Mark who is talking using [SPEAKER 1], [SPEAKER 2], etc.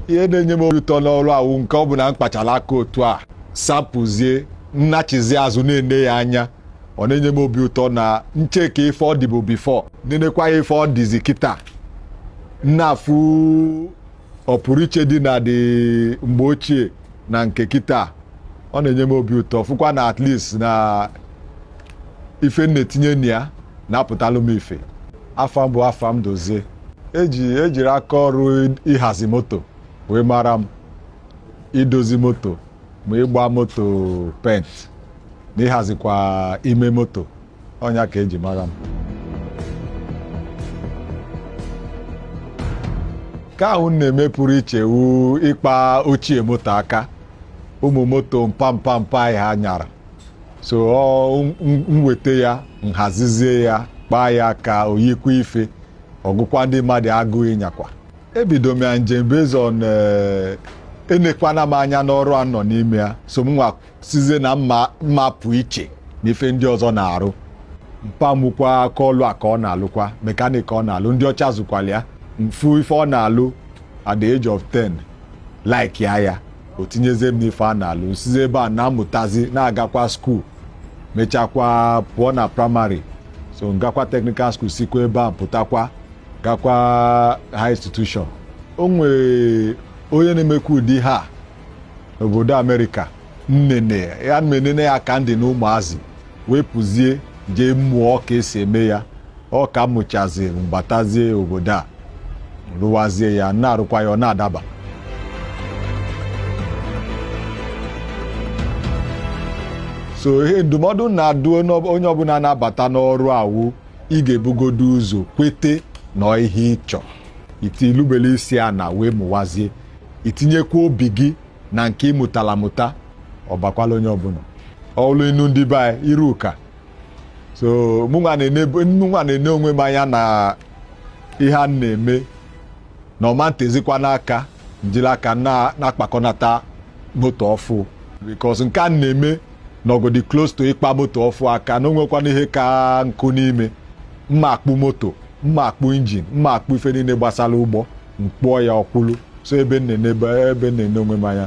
[SPEAKER 1] ihe na-enye m obi ụtọ n'ọrụ a wụ nke ọ bụ na m kpachara aka otu a sapụzie m nachizi azụ na-ene ya anya ọ na-enye m obi ụtọ na m cheka ife ọ dịbụ before nenekwa ya ife ọ dịzi kịta m na-afụ ọpụrụiche dị na dị mgbe ochie na nke kịta ọ na-enye m obi ụtọ fụkwa na at least na ife m na-etinye na ya na-apụtalụ m ife afa m bụ Afam Dozie eji ejiri aka ọrụ ịhazi moto wee mara m idozi moto ma ịgba moto paint na ịhazikwa ime moto ọ nya ka eji mara m nke ahụ m na-eme pụrụ iche wu ịkpa ochie moto aka ụmụ moto mpa mpa mpa anyị ha nyara so m weta ya m hazizie ya kpaa ya ka o yikwa ife ọ gụkwa ndị mmadụ agụụ ịnyakwa ebido m ya njem based on eh, enekwana m anya n'ọrụ a m nọ n'ime ya so m nwa sizie na m ma-apụ iche na ife ndị ọzọ na-arụ mpa mụkwa aka ọlụ a ka ọ na-alụkwa mechanic ọ na-alụ ndị ọcha zụkwala ya m fụ ife ọ na-alụ at the age of 10 like ya ya o tinyezie m n'ife a na-alụ m sizi ebe a na-amụtazi na-agakwa school mechakwa pụọ na primary so m gakwa technical school sikwa ebe a pụtakwa gakwa high institution o nwere onye na-emekwa ụdị ha n'obodo America m nene ya m enene ya ka m dị na ụmụazị wee pụzie jee mụọ ka esi eme ya ọ ka m mụchazi m batazie obodo a m rụwazie ya na-arụkwa ya ọ na-adaba so ihe ndụmọdụ m na-adụ onye ọbụla na-abata n'ọrụ a wụ ị ga-ebugodo ụzọ kwete na ihe ị chọ itilubele isi ana wee mụwazie i tinyekwa obi gị na nke ị mụtala mụta ọ bakwala onye ọbụla ọlụ inu ndị be anyị iru ụka so mụnwa na-ene onwe m anya na ihe m na-eme na ọ ma ntezikwana aka m jiri aka na-akpakọnata moto ọfụ because nke m na-eme nọgodi close to ịkpa moto ọfụ aka na o nwekwana ihe ka nkụ n'ime m ma-akpụ moto m ma-akpụ injin m ma-akpụ ife niile gbasara ụgbọ m kpụọ ya ọ kwụlụ so ebe m na-ene ebe ebe m na-ene onwe m anya